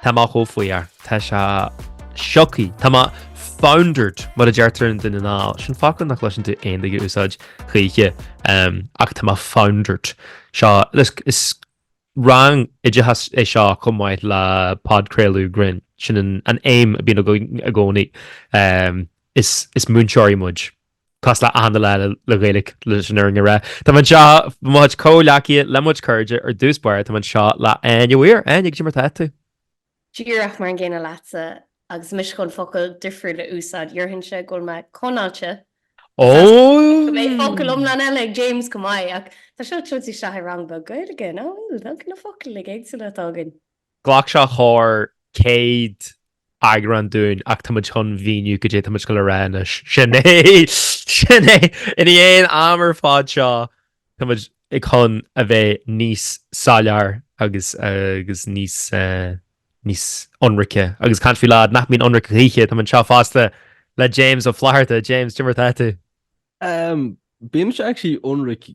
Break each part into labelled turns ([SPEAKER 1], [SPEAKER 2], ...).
[SPEAKER 1] Tá mé chomh fuar. Tá sé sioctha. Tá mé foundered, mar a deirtear i nDún na nGall. Sin focal nach gcloiseann tú aon duine ag úsáid choíche, ach tá mé foundered. Seo, is rang oideachais é seo chomh maith le podchraoladh grinn. Sin an aidhm a bhíonn i gcónaí. Is múinteoirí muid. Cosúil le hachan duine eile le Gaeilge leis an fhírinne a rá. Tá mé anseo le mo chuid comhghleacaithe, le mo chuid cairde. Ar dtús báire tá mé anseo le Áine uair Áine goidé mar atá tú. Díreach
[SPEAKER 2] mar an gcéanna leatsa agus mise chun focal difriúil a úsáid déarfainnse go bhfuil mé conáilte
[SPEAKER 1] go mbeidh
[SPEAKER 2] focal iomlán eile ag James chomh maith ach tá seo tugtha isteach i rang beag Gaeilge, nó bhfuil na focail éagsúla atá againn. Ghlac
[SPEAKER 1] sé thar céad eagrán dúinn ach táimid chun míniú goidé atáimid ag goil a rá anois. Sin é! Sin é! I ndiaidh an am ar fad seo táimid chun a bheith níos soiléire agus níos níos ionraice. Agus caint faoi lad nach mbíonn ionraic choíche. Táimid anseo fosta le James Ó Flatharta. James, goidé mar atá tú?
[SPEAKER 3] Bíonn sé actually ionraic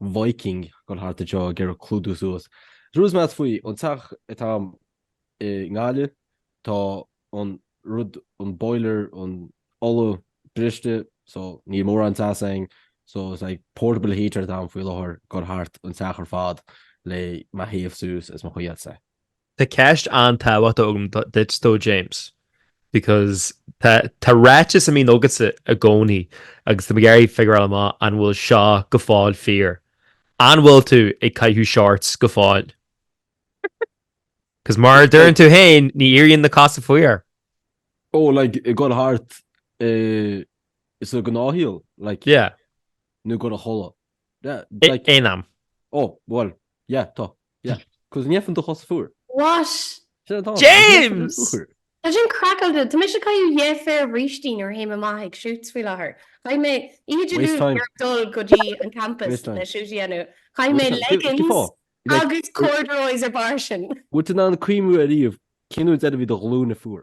[SPEAKER 3] Viking ag goil thart anseo ag iarraidh clúdú suas. Sé an rud is measa faoin teach atá agam i nGaillimh, tá an rud, an boiler, an ola briste, so níl mórán teas againn, so is like portable heater atá agam faoi láthair ag goil thart an teach ar fad le mé a théamh suas is mo shuí, I'd say. Tá
[SPEAKER 1] ceist an-tábhachtach agam duit though, James, because tá ráiteas a mbíonn agatsa i gcónaí agus tá mé ag iarraidh a fhigiúráil amach an bhfuil seo go fóill fíor. An bhfuil tú ag caitheamh shorts go fóill? Because mar a deireann tú féin, ní éiríonn na cosa fuar.
[SPEAKER 3] Oh, like, ag goil thart sa ghnáthshaol, like. Yeah.
[SPEAKER 1] Nó ag goil a
[SPEAKER 3] chodladh. Yeah, like. Aon am.
[SPEAKER 1] Oh, bhuel,
[SPEAKER 3] yeah, tá. Yeah, 'cause ní fhaigheann do chosa fuar. What? Sin atá ann, 'cause
[SPEAKER 2] ní fhaigheann do
[SPEAKER 1] James! fuar. Tá
[SPEAKER 2] sin craiceáilte. Tá mise ag caitheamh dhá phéire brístí nuair a théim amach ag shoots faoi láthair. Chaith mé inniu Waste of time. ag dul go dtí an campas Waste time. le shoot a dhéanamh. Chaith mé Waste time. Cé- cén fáth? leggings Like, agus corduroys ar bharr sin. bhfuil tú in ann cuimhniú
[SPEAKER 3] ariamh cén uair deireadh a bhí do ghlúine fuar?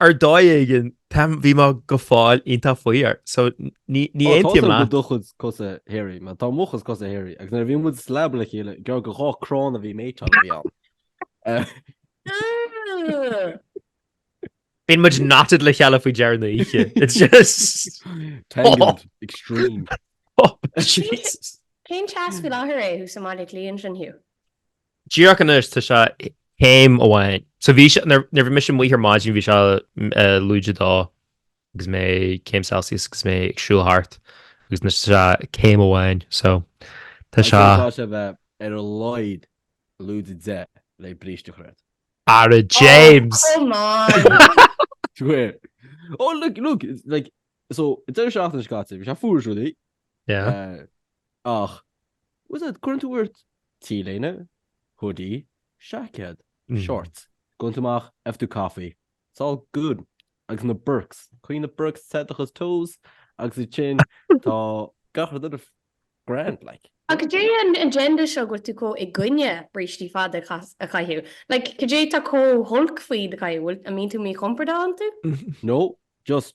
[SPEAKER 1] Ar dhóigh éigin, táim, bhí mé go fóill iontach fuar, so ní, ní aontaím leat. Tá do chuid
[SPEAKER 3] cosa hairy, man, tá mo chuidse cosa hairy, agus nuair a bhí muid sa leaba le chéile, gearr go dhá chrann a bhí méiteáil a bhí ann.
[SPEAKER 1] Bíonn muid knotted le chéile faoi dheireadh na hoíche. It's just...
[SPEAKER 3] Tangled, extreme. Oh,
[SPEAKER 1] Jesus. Cén teas
[SPEAKER 2] faoi láthair é thuas i mBaile Átha Cliath ansin, Hugh?
[SPEAKER 1] Díreach anois tá sé céim amháin. So bhí nuair a bhí mise amuigh ar maidin bhí sé eh, lúide dó agus mé céim Celsius agus mé ag siúl thart agus anois tá sé céim amháin so Tá sé le bheith ar
[SPEAKER 3] a laghad lúide deich le bríste a chur. Ara James ó look look like so it's a shot in Scotland which I foolishly yeah
[SPEAKER 1] uh, ach
[SPEAKER 3] Úsáid, Cuireann tú ort T-léine, hoodie, seaicéad, short, Gabhann tú amach faigheann tú coffee, it's all good, agus na Birks, Coinníonn na Birks te do chos toes agus ansin tá gach rud eile grand, like. Ach cad é
[SPEAKER 2] an agenda seo go bhfuil tú comh i gcoinne brístí fada a chaitheamh? Like, cad é tá comh holc faoi iad a chaitheamh? Bhfuil, an mbíonn tú míchompordach iontu? No, just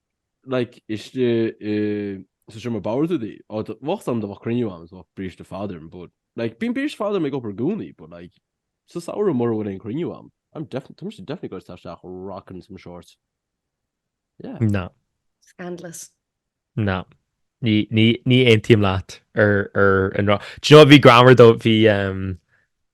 [SPEAKER 3] like, istigh i sa seomra báire tú dí, ó dá mbeadh am dá mbeadh cruinniú am, is bheadh bríste fada orm, but, like, bíonn bríste fada orm ag obair i gcónaí, but, like, sa samhradh mura bhfuil aon chruinniú am, I'm definitely, tá mise definitely ag goil isteach rocking some shorts. Yeah.
[SPEAKER 1] No. Scandalous.
[SPEAKER 2] No.
[SPEAKER 1] Ní aontaím leat ar an rud. Do you know, bhí greannmhar though, bhí, em,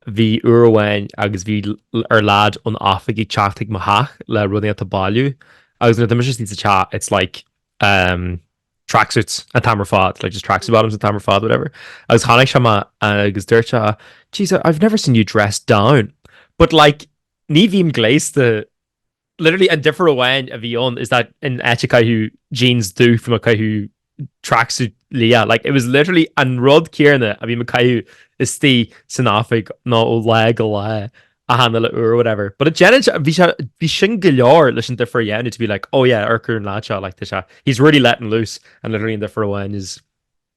[SPEAKER 1] bhí uair amháin agus bhí ar lad ón oifig ag teacht chuig mo theach le rudaí a bhailiú agus nuair atá mise istigh sa teach, it's like, em, tracksuits an t-am ar fad, like just tracksuit bottoms an t-am ar fad, whatever. Agus tháinig sé amach agus dúirt sé, jeez, I've never seen you dressed down. But like, ní bhím gléasta Literally an difear amháin a bhí ann is that in áit ag caitheamh jeans dubh bhí mé ag caitheamh tracksuit liath. Like, it was literally an rud céarna a bhí mé ag caitheamh istigh san oifig nó ó lá go lá a thána le uair or whatever. But it deineann sé, bhí sé, bhí sin go leor leis an difear a dhéanamh to be like, oh yeah, amharc ar an lad seo, like tá sé, he's really letting loose and literally an difear amháin is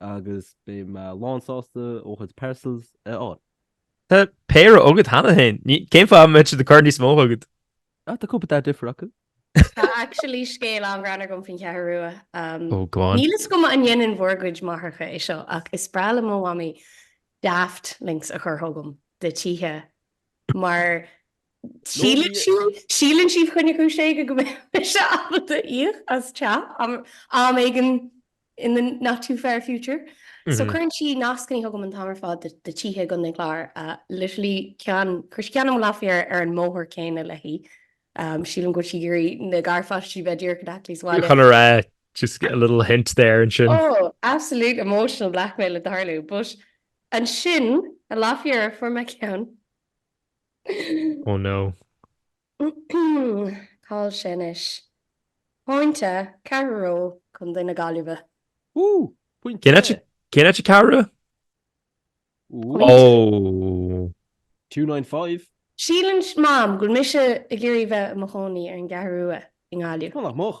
[SPEAKER 3] Agus beidh mé lán sásta do chuid parcels a fháil.
[SPEAKER 1] Tá péire agad cheana féin. Ní- Cén fáth a mbeadh siad ag cur níos mó chugat? Ah, tá cúpla, tá
[SPEAKER 3] difear acu. Tá actually
[SPEAKER 2] scéal an-ghreannmhar agam faoin Cheathrú Rua. Um, Ó, go on. Níl
[SPEAKER 1] a fhios agam an ndéanann
[SPEAKER 2] bhur gcuid máithreacha é seo ach is breá le mo mhamaí daft links a chur chugam de tithe mar Síleann sí fá choinne cúis éigin go mbeidh mise ábalta íoc as teach am éigin in the not too far future. So cuireann sí nascannaí chugam an t-am ar fad de tithe i gContae an Chláir. Literally ceann, chuir sí ceann chugam an lá fá dheireadh ar an mbóthar céanna léi. Sílim go bhfuil sí ag iarraidh na garpháistí a bheith díreach in aice níos abhaile. Chun a rá, just a
[SPEAKER 1] little hint there ansin. Oh, absolute
[SPEAKER 2] emotional blackmail ag tarlú. But ansin, an lá fá dheireadh, fuair mé ceann
[SPEAKER 1] Oh
[SPEAKER 2] no. Call sé anois. Pointe, ceathrar reo chun duine na Gaillimhe. Ooh!
[SPEAKER 3] Pointe!
[SPEAKER 1] Cén áit a ceathrar? Ooh.
[SPEAKER 3] Oh! 295.
[SPEAKER 2] Síleann Mam go bhfuil mise ag iarraidh bheith i mo chónaí ar an gCeathrú Rua i nGaillimh. Well, nach moch.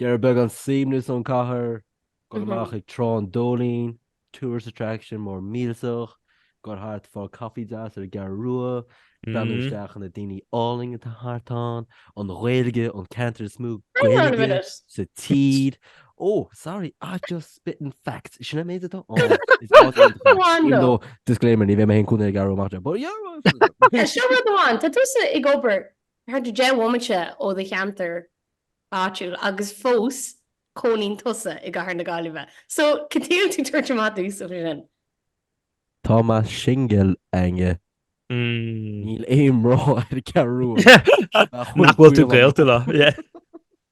[SPEAKER 3] Giota beag an suaimhneas ón cathair, dul amach ag Trá an Dóilín, tourist attraction mór millteach, gabháil thart, fáil caife deas ar an gCeathrú Rua, breathnú isteach ar na daoine álainn atá thart ann, an Ghaeilge, an ceantar is mó Gaeilge sa tír. Ó, sorry, I just spitting facts. Sin an méid atá ann. Is áit iontach é. Even though, disclaimer, ní bheidh mé féin cónaí ar an gCeathrú Rua, but yeah! Seo rud amháin,
[SPEAKER 2] tá tú ag obair Thart ar deich bhomaite ó do cheantar áitiúil agus fós cónaíonn tusa i gcathair na Gaillimhe. So, cad chuige a bhfuil tú ag tabhairt amach domhsa ansin?
[SPEAKER 3] Tá mé singil, a Áine. Níl aon mná ar an gCeathrú Rua. Nach
[SPEAKER 1] bhfuil tú gaolta leo, yeah.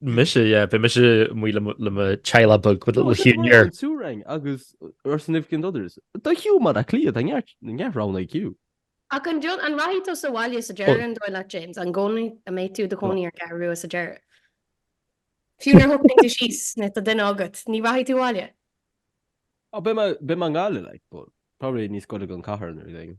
[SPEAKER 1] Mise yeah, beidh mise amuigh le mo theaghlach beag with little Hugh Muir. Triúr againn
[SPEAKER 3] agus our significant others. Do Hugh Baile Átha Cliath na ngearr round IQ. Ach an deon, an
[SPEAKER 2] rachaidh tú sa bhaile sa deireadh an dóigh leat James? An gcónaí, an mbeidh tú i do chónaí ar an gCeathrú Rua sa deireadh? Fiú nuair a shocraíonn tú síos is tá duine agat, ní rachaidh tú abhaile?
[SPEAKER 3] Ó beidh mé, beidh mé i nGaillimh like but probably níos gaire don chathair nuair a dtéigim.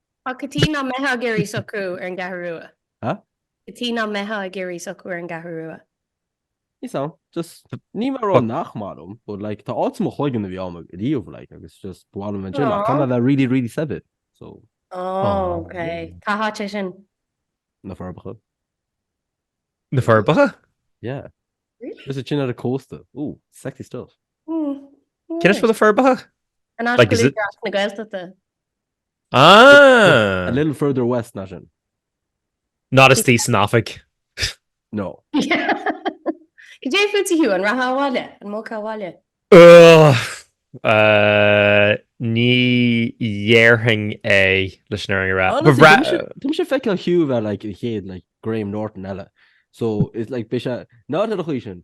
[SPEAKER 3] Ach cad chuige nach
[SPEAKER 2] mbeitheá ag iarraidh socrú ar an gCeathrú Rua. Hah? Cad chuige
[SPEAKER 3] nach
[SPEAKER 2] mbeitheá ag iarraidh socrú ar an gCeathrú Rua. Is
[SPEAKER 3] ann. Just, ní mar gheall nach maith liom, but like, tá áit i mo chloigeann a bhí ann riamh, like, agus just, ba mhaith liom ansin, ach caithfidh tú bheith really, really saibhir, so. Oh,
[SPEAKER 2] ok. Cá háit é sin? Na
[SPEAKER 1] Forbacha. Na Forbacha?
[SPEAKER 3] Yeah. Really? Just teachín ar an gcósta. Ooh, sexy stuff.
[SPEAKER 1] Cén áit bhfuil na Forbacha? An áit a bhfuil
[SPEAKER 2] Údarás na Gaeltachta.
[SPEAKER 1] Ah! A little further
[SPEAKER 3] west ná
[SPEAKER 1] sin. Not istigh san oifig. No.
[SPEAKER 2] Cad é fútsa Hugh, an rachfá abhaile, an mbogfá
[SPEAKER 1] abhaile? Ní dhéarfainn é leis an fhírinne a rá. Tá mise ag
[SPEAKER 3] feiceáil Hugh a bheith like an chéad like Graham Norton eile. So is like beidh sé nádúrtha do chaoi sin.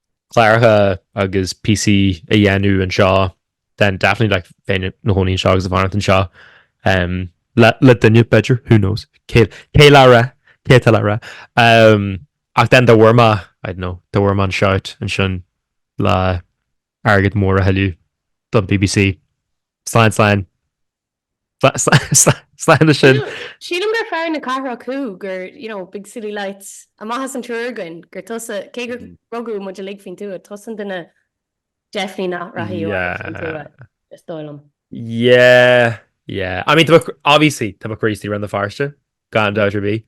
[SPEAKER 1] cláracha agus píosaí a dhéanamh anseo then definitely like bheinn i mo chónaí anseo agus ag fanacht anseo um, le, le duine b'fhéidir who knows cé tá le rá cé tá le rá um, ach then dá bhfuair mé I don't know dá bhfuair mé an shot ansin le airgead mór a thuilleamh don BBC slán slán Sláine sin. Sílim
[SPEAKER 2] gur fear na cathrach thú, gur, you know, big city lights. Amach as an triúr againn, gur tusa, cé gur rugadh muid uilig faoin tuath, tusa an duine definitely nach rachadh faoin tuath, is dóigh liom.
[SPEAKER 1] Yeah, yeah. I mean, obviously, tá mé crazy ar Bhéal Feirste, gan dabht ar bith.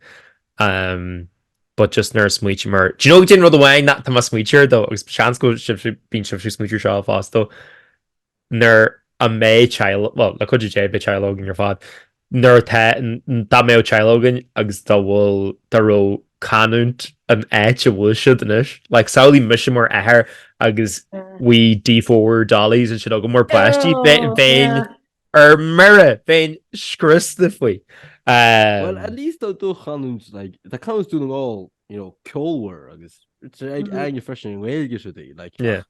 [SPEAKER 1] Um, but just nuair a smaoitear mar... Do you know, an rud amháin, tá mé ag smaointeamh dó, agus seans go mbíonn sibhse ag smaointeamh seo fosta, nuair a bheidh teaghlaigh, bhuel, le cuidiú Dé beidh teaghlaigh againn ar fad, nuair atá, dá mbeadh teaghlaigh againn agus dá bhfuil, dá raibh canúint an áit a bhfuil siad anois, like, samhlaigh mise mar athair agus wee D4 dollies and shit agam mar pháistí, bheinn, bheinn, ar mire, bheinn scriosta faoi. Well,
[SPEAKER 3] at least tá do chanúint, like, tá canúint Dhún na nGall, you know, ceolmhar agus, ag Áine freisin an Ghaeilge siúd, like, Yeah.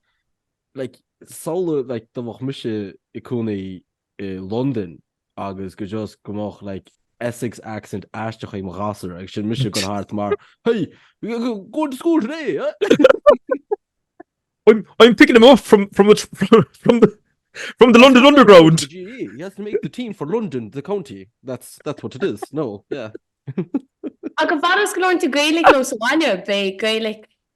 [SPEAKER 3] Like, samhladh, like, do bheadh mise ag cónaí i Londain agus go just go mbeadh, like, Essex accent aisteach ag mo ghasúr agus sin mise gon thart mar, hey, go to school today, eh? I'm,
[SPEAKER 1] I'm picking him off from, from, the, from, from the From the London Underground. The GE. He has to make
[SPEAKER 3] the team for London, the county. That's that's what it is. No, yeah. A
[SPEAKER 2] go bhar is go leornta Gaelic nó sa bhaile, bé Gaelic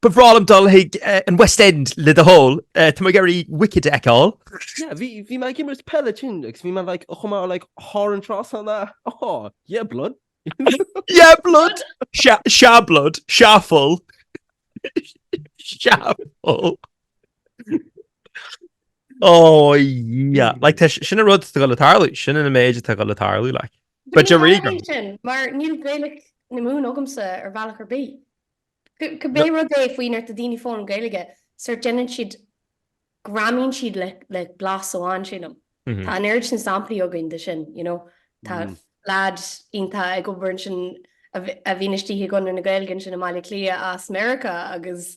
[SPEAKER 1] Ba bhreá liom dul chuig an West End le do thoil. Tá mé ag iarraidh Wicked a fheiceáil. Yeah, bhí, bhí mé
[SPEAKER 3] ag imirt peile tigh agus bhí mé like, chomh maith like, thar an trá san a, oh, yeah blood. Yeah
[SPEAKER 1] blood! Sea, sea blood, sea fuil. Sea fuil. Oh, yeah. Like, tá, sin a rud tá go le tarlú, sin an méid atá go le tarlú, like. Ba de ríoga. Ní sin, mar níl
[SPEAKER 2] Gaelic na Mumhan agamsa ar bhealach ar bith. Cibé rud é faoi nuair atá daoine ag foghlaim Gaeilge, sórt déanann siad, greamaíonn siad le blas amháin, sílim. Tá an oiread sin samplaí againn de sin, you know. Tá leaid iontach ag obair ansin a bhíonn istigh i gConradh na Gaeilge ansin i mBaile Átha Cliath as Meiriceá agus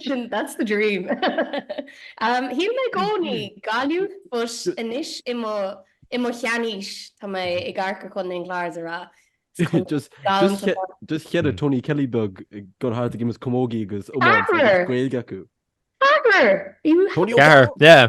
[SPEAKER 2] Sin, that's the dream. Shíl mé i gcónaí, Gaillimh, but anois i mo, i mo sheanaois, tá mé ag amharc ar Chontae an Chláir, is a rá. Just,
[SPEAKER 3] just, just chead Tony Kelly beag ag dul thart ag imirt camógaí agus iomáint agus Gaeilge acu. Ceathrar!
[SPEAKER 2] Ceathrar, yeah.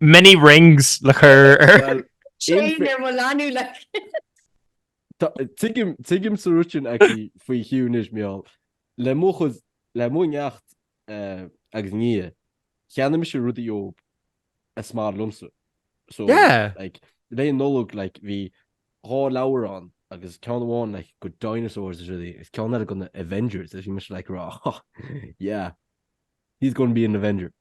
[SPEAKER 1] Many rings le cur ar. Chain ar
[SPEAKER 2] mo leanbh like.
[SPEAKER 3] Tuigimse ruitin aici faoi Hugh anois, Meall. Le mo chuid, le mo neacht agus nia, cheannaigh mise rudaí dóibh is maith liomsa. So,
[SPEAKER 1] like,
[SPEAKER 3] Lae Nollag, like, bhí dhá leabhar ann agus ceann amháin, like, de dinosaurs is rudaí, is ceann eile de na Avengers, is bhí mise, like, ag rá, yeah, he's going to be an Avenger.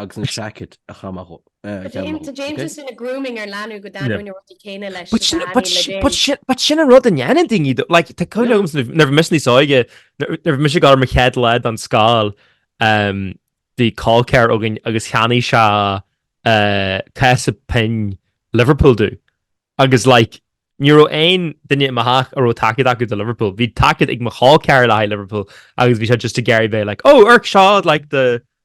[SPEAKER 3] agus an seaicéad a chaith amach ó.
[SPEAKER 2] Tá déanta sin na grooming ar leanbh
[SPEAKER 1] go dtaitníonn na rudaí céanna leis na daoine le déan. But sin an rud a ndéanann daoine though. Like, tá cuimhne agam nuair bhí mise níos óige, nuair bhí mise ag dul ar mo chéad lá den scoil, bhí col ceathar againn agus cheannaigh sé cása pinn Liverpool domh. Agus like, ní raibh aon duine i mo theach a raibh tacaíocht acu do Liverpool. Bhí tacaíocht ag mo chol ceathar le haghaidh Liverpool agus bhí sé just ag iarraidh bheith like, oh, oirc seo like the,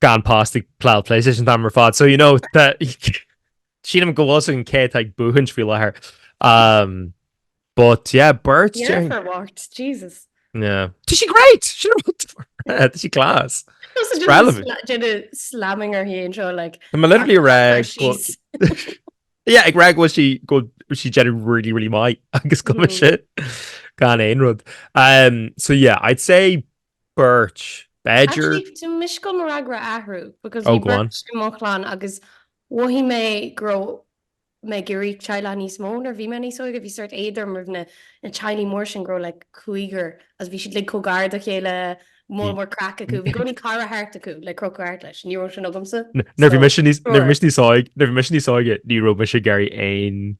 [SPEAKER 1] gan past ag pláil PlayStation tam ar fad, so you know sínim go bhil an cé ag buhans fi lethir. Um, but yeah, birds yeah, during... watch,
[SPEAKER 2] Jesus. Yeah. Did she
[SPEAKER 1] great? She Did she class? relevant. Sla slamming
[SPEAKER 2] her hand show like I'm literally rag.
[SPEAKER 1] yeah, ag rag was she go she generally really really might agus go mm. shit gan ain rud. Um so yeah, I'd say Beirt, b'fhéidir. Actually, tá mise ag dul
[SPEAKER 2] mo fhreagra a athrú, because bhí beirt i mo
[SPEAKER 1] chlann
[SPEAKER 2] agus mhothaigh mé go raibh mé ag iarraidh teaghlach níos mó nuair bhí mé níos óige, bhí sórt éad orm roimh na teaghlaigh mór sin go raibh like cúigear agus bhí siad like chomh gar dá chéile, mór mór craic acu, bhí i gcónaí cara thart acu le crochadh thart leis, ní raibh sin agamsa.
[SPEAKER 1] Nuair bhí mise níos óige, ní raibh mise ag iarraidh aon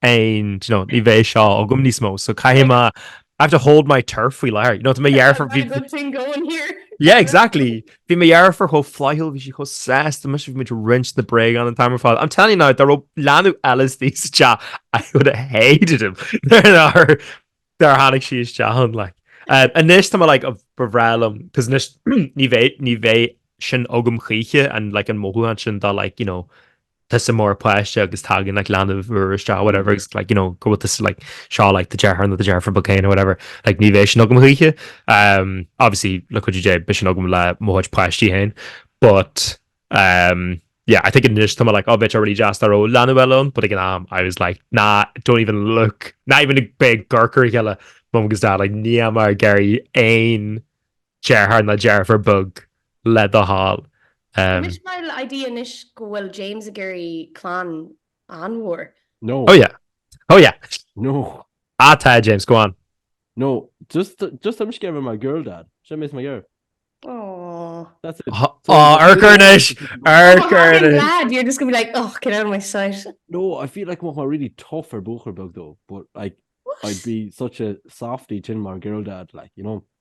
[SPEAKER 1] and you know ní bheidh seo agam níos mó so caithfidh me I have to hold my turf faoi láthair you know tá mo dheirfiúr bhí good thing going
[SPEAKER 2] here yeah exactly
[SPEAKER 1] bhí mo dheirfiúr chomh flaithiúil bhí sí chomh deas dom is bhí muid ag roinnt na bréagáin an t-am ar fad I'm telling you now dá raibh leanbh eile insa teach I would have hated him dár tháinig sé isteach ann like uh, anois tá mé like ba bhreá liom cos anois ní bheidh ní bheidh sin agam choíche an like an mothúchán sin dá like you know tusa mar pháiste agus tagann like leanbh úr isteach whatever agus like you know go bhfuil tusa like seo like the deartháir nó the deirfiúr ba céin or whatever like ní bheidh sin agam choíche um obviously le cuidiú Dé beidh sin agam le mo chuid páistí féin but um yeah I think anois tá mé like oh bheadh sé ar dóigh just dá raibh leanbh eile ann but ag an am I was like nah don't even look ná even bígí gar dá chéile mum agus dad like níl mé ag iarraidh aon Deartháir ná dearfar beag le do thoil. Anois mar
[SPEAKER 2] le idea anois go bhfuil James ag iarraidh clann an-mhór. No. Oh
[SPEAKER 3] yeah. Oh
[SPEAKER 1] yeah. No.
[SPEAKER 3] Ah tá James,
[SPEAKER 1] go on. No, just
[SPEAKER 3] just I'm scared of my girl dad. Sin mé is mo ghearr. Aww. That's
[SPEAKER 2] it. Aww,
[SPEAKER 3] aww Urchar anois.
[SPEAKER 1] Urchar
[SPEAKER 2] anois. Oh, dad, you're just going to be like, oh, get out of my sight. No, I feel like mo
[SPEAKER 3] really tough ar buachar beag dó, but like What? I'd be such a softy tin mar girl dad, like, you know.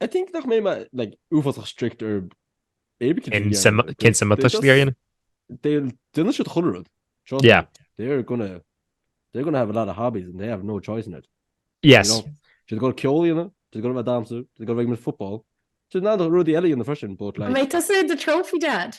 [SPEAKER 3] I think nach mbeidh mé like uafásach strict ar éirí cin Cin sin sin-
[SPEAKER 1] cin sin má tuisli ar
[SPEAKER 3] dhéanamh. Déanfaidh siad chuile rud. Trust Yeah. me.
[SPEAKER 1] They're gonna
[SPEAKER 3] they're gonna have a lot of hobbies and they have no choice in it. Yes.
[SPEAKER 1] You know? Siad ag
[SPEAKER 3] dul ceol a dhéanamh, siad ag dul a bheith ag damhsa, siad ag dul a bheith ag football. Siad in ann rudaí eile a dhéanamh freisin, but An like mbeidh tusa i do trophy
[SPEAKER 2] dad?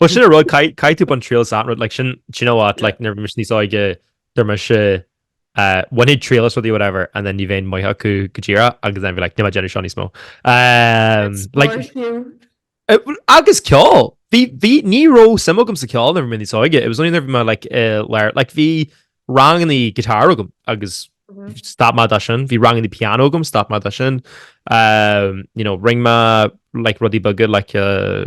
[SPEAKER 1] Bhuel sin an rud, caithfidh tú baint triail as an rud, like sin, do you know what, like nuair bhí mise níos óige, domsa, uh, bhainfinn triail as rudaí whatever, and then ní bheinn maith acu go díreach, agus then bhí mé like, níl mé ag déanamh seo níos mó. Um, like, uh, agus ceol, bhí, bhí, ní raibh suim agam sa cheol nuair bhí mé níos óige, it was only nuair bhí mé like, uh, leir, like bhí ranganna guitar agam, agus mhm. stop mé de sin, bhí ranganna piano agam, stop mé de sin, um, you know, rinne mé, like rudaí beaga, like, uh,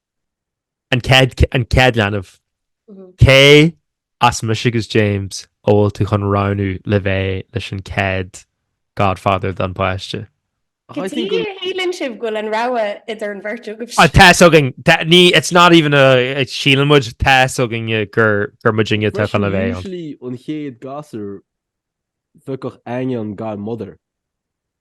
[SPEAKER 1] An céad, an céad leanbh. Cé as mise agus James a bhfuil tú chun roghnú le bheith leis an céad godfather don páiste? Cad chuige a shíleann sibh go bhfuil an rogha idir an bheirt agaibh Ah, sin. tá a fhios againn. Tá- ní, it's not even a, a síleann muid, tá a fhios againn gur, gur muidne atá chun le bheith ann. Usually an chéad
[SPEAKER 3] gasúr bheadh Áine an godmother.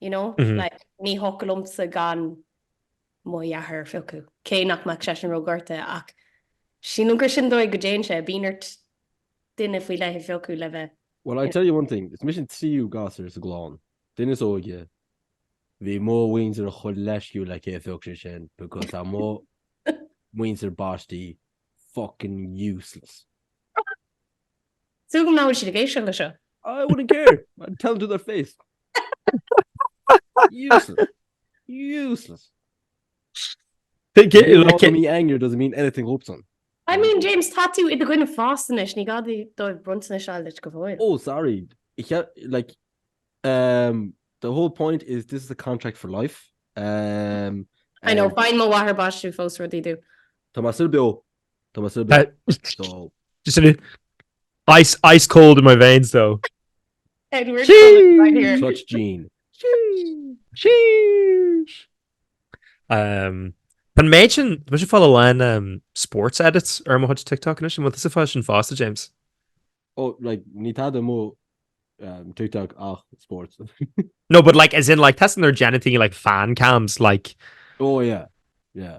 [SPEAKER 2] You know? Like, ní thógtha liomsa gan mo dheartháir a phiocadh, cé nach mbeadh seisean ró-ghorta, ach sílim gur sin an dóigh go dtéann sé, bíonn ort duine faoi leith a phiocadh le bheith. Well, I tell you
[SPEAKER 3] one thing, is mise an tríú gasúr sa gclann, an duine is óige, bhí mo mhuintir chomh leisciúil le cé a phioc sé sin, because tá mo mhuintir baiste fucking
[SPEAKER 2] useless. Tuigim nach bhfuil siad ag éisteacht le seo. I wouldn't
[SPEAKER 3] care. I'd tell them to their face. Useless. Useless. Being angry doesn't mean anything though son. I mean
[SPEAKER 2] James tá tú i do dhuine fásta anois ní gá dóibh bronntanais a fháil duit go fóill. Oh sorry
[SPEAKER 3] like um, the whole point is this is a contract for life um,
[SPEAKER 2] I know um, faigheann mo mháthair baistí fós rudaí dom. Tá mé sular beo.
[SPEAKER 3] Tá mé sular beo.
[SPEAKER 1] Just in ice, ice cold in my veins though. Edward
[SPEAKER 2] right here. Such Jean.
[SPEAKER 3] Sheesh.
[SPEAKER 1] Um, Pan méid sin, mu sin fáil lein um, sports edits ar mo hot TikTok in sin, is fá sin fásta, James. Oh, like,
[SPEAKER 3] ní tada mó um, TikTok ach sports. no, but
[SPEAKER 1] like, as in, like, testing their geniting, like, fan cams, like... Oh, yeah,
[SPEAKER 3] yeah.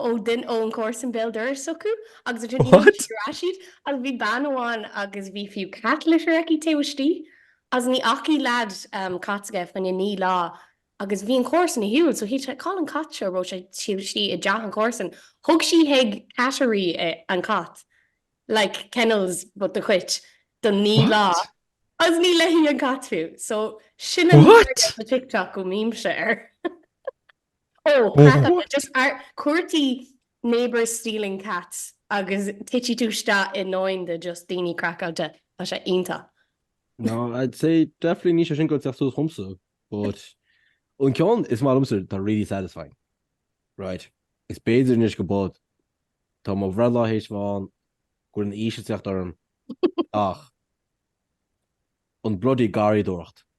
[SPEAKER 2] ó duine ón gcomharsan béal dorais s'acu agus ansin What? d'iarr ar ais iad agus bhí bean amháin agus bhí fiú cat litter aici taobh istigh agus ní fhacaidh lead an cat seo ag duine faoi naoi lá agus bhí an comharsan ar shiúl so shíl sí gur chaill an cat seo raibh sé taobh istigh i dteach an chomharsan thug sí chuig cattery eh, an cat like kennels but do chait don naoi lá What? agus ní léithi an cat fiú so sin an What? an TikTok go mbímse air Ó, craic an oideas! Cuardaigh neighbours stealing cats agus titfidh tú isteach i ndomhain de just daoine craiceáilte. Tá sé iontach. No, I'd
[SPEAKER 3] say definitely níl sé sin ag teacht suas chugam-sa, but an ceann is maith liom-sa, tá really satisfying. Right, is b'fhéidir anois go, but tá mo bhreithlá théis a bheith ann, go bhfuil an aois ag teacht orm, ach an bloody garraíodóireacht.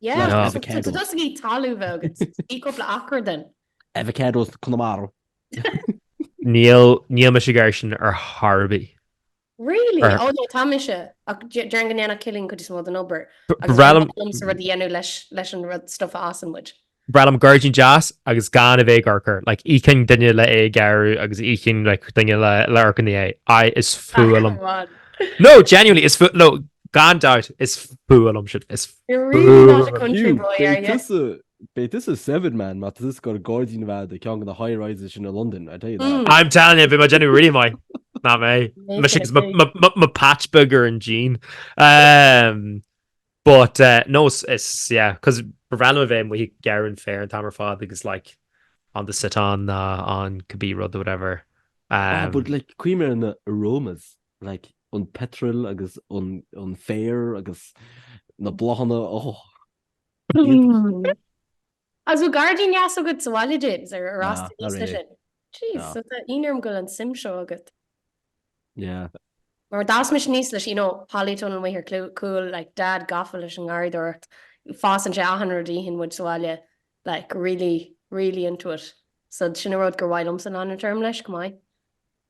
[SPEAKER 2] Avocado. Teastaíonn talamh uait. Ní cúpla acra then.
[SPEAKER 3] Avocados
[SPEAKER 1] Connemara. Níl níl mise ag argóint ar ar bith. Really?
[SPEAKER 2] Ar- Oh no, tá mise. Ach dé- déarfainn go ndéanfadh Cillian an chuid is mó den obair. Agus Bhreá liom- liomsa
[SPEAKER 1] rud a dhéanamh
[SPEAKER 2] leis leis an rud stuff a fhásann muid. Bhreá liom
[SPEAKER 1] gairdín deas agus gan a bheith ag obair air. Like, íocfainn duine le é a ghearradh agus íocfainn like, duine le, le breathnú ina dhiaidh. I, is fuath liom. Bhán. No, genuinely, is fuath, no, gan dabht, is fuath liom shit. Is You're really not
[SPEAKER 2] a country boy, are you? Beidh tusa
[SPEAKER 3] seven man má tá tusa gan gairdín i gceann de na high rises sin i London, I tell you that. I'm telling you, bhí mé ag
[SPEAKER 1] déanamh réidh mo. Ná mé. Mo, mo patch beag gairdín. But uh, no, it's, yeah, cos b'fhearr liom a bheith ag gearradh an fhéir an t-am ar fad agus like on the sit on, uh, on cibé rud whatever. Um, ah, but like
[SPEAKER 3] cuimhnigh ar na aromas. like an petrol agus an féar agus na bláthanna Ó. Agus
[SPEAKER 2] bhfuil gairdín deas agat sa bhaile James ar fhás tú aníos leis sin? Jeez, so tá ionadh orm go bhfuil an suim seo agat. Yeah. Mar d'fhás mise aníos leis, you know, polytunnel amuigh ar cúl, like Dad gafa leis an ngarraíodóireacht, fásann sé achan rud a itheann muid sa bhaile, like really, really into it. So sin an rud gur mhaith liomsa a dhéanamh. Téarma leis, chomh maith.